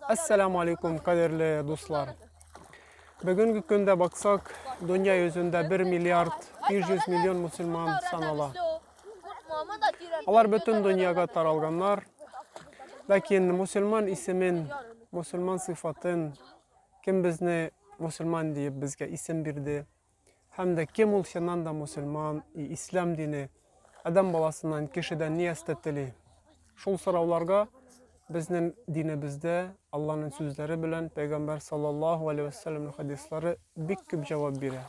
Ассаламу алейкум, кадерле дуслар. Бүгенге көндә баксак, дөнья йөзендә 1 миллиард 500 миллион мусульман санала. Алар бөтен дөньяга таралганнар. Ләкин мусульман исемен, мусульман сыйфатын кем безне мусульман диеп безгә исем бирде? Һәм дә кем ул чыннан да мусульман, и ислам дине, адәм баласыннан, кешедән ни әстә тели? Шул сорауларга безнең динебездә Алланың сүзләре белән пәйгамбәр саллаллаһу алейхи вәссәләмнең хадислары бик күп җавап бирә.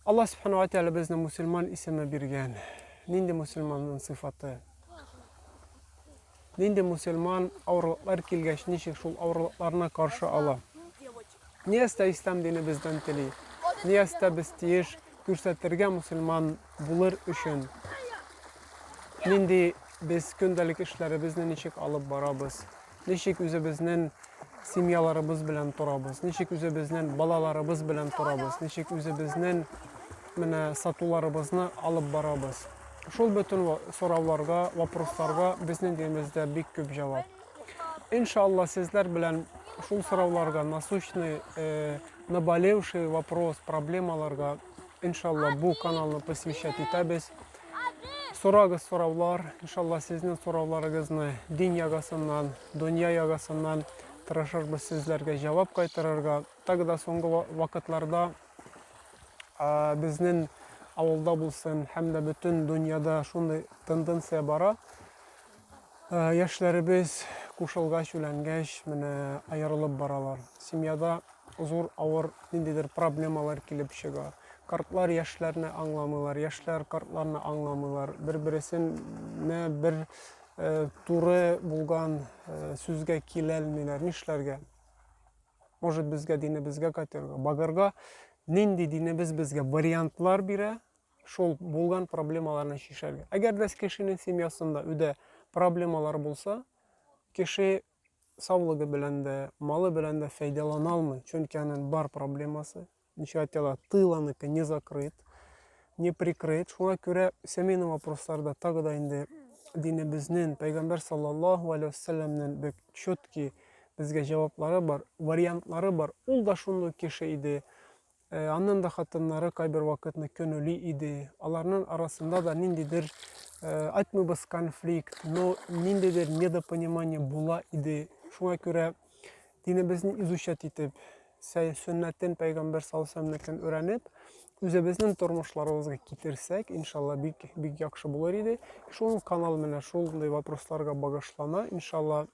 Алла субханала тәгалә безне мусульман исеме биргән. Нинди мусульманның сыйфаты? Нинди мусульман авырлыклар килгәч ничек шул авырлыкларына каршы ала? Ниястә ислам дине бездән тели. Ниястә без тиеш күрсәтергә мусульман булыр өчен. Нинди без көндәлек эшләребезне ничек алып барабыз, ничек үзебезнен семьяларыбыз белән торабыз, ничек үзебезнен балаларыбыз белән торабыз, ничек үзебезнен менә сатуларыбызны алып барабыз. Шул бөтен сорауларга, вопросларга безнең динебездә бик күп җавап. Иншалла сезләр белән шул сорауларга насущный э, наболевший вопрос проблемаларга иншалла бу каналны посвящать итәбез сорагыз сораулар иншалла сезнең сорауларыгызны дин ягасыннан дөнья ягасыннан тырышырбыз сезләргә җавап кайтарырга так да соңгы вакытларда ә, безнең авылда булсын һәм дә бөтен дөньяда шундый тенденция бара Ә, яшьләребез кушылгач, үләнгәч, менә аерылып баралар. Семьяда зур авыр ниндидер проблемалар килеп чыга. Картлар яшьләрне аңламыйлар, яшьләр картларны аңламыйлар. Бер-бересенә бер э, туры булган э, сүзгә киләлмиләр. Нишләргә? Может, безгә динебезгә кайтырга, багырга? Нинди динебез безгә вариантлар бирә? шул булган проблемаларны чишәргә. Әгәр дә кешенең семьясында үдә проблемалар булса, кеше саулыгы белән дә, малы белән дә файдалана алмый, чөнки аның бар проблемасы. Ничә айтала, тыланыкы не закрыт, не прикрыт. Шуңа күрә семейный вопросларда тагы да инде динебезнең, пәйгамбәр саллаллаху алейхи вассаламның бик четкий безгә җаваплары бар, вариантлары бар. Ул да шундый кеше иде. Э, аннан да хатыннары кайбер вакытны көнүли иде. Аларның арасында да ниндидер э, айтмыбыз конфликт, но ниндидер недопонимание була иде. Шуңа күрә динебезне изучать итеп, сөннәтен пәйгамбер салсәмнекен өйрәнеп, үзебезнең тормышларыбызга китерсәк, иншалла бик бик яхшы булыр иде. Шул канал менә шундый вопросларга багышлана, иншалла.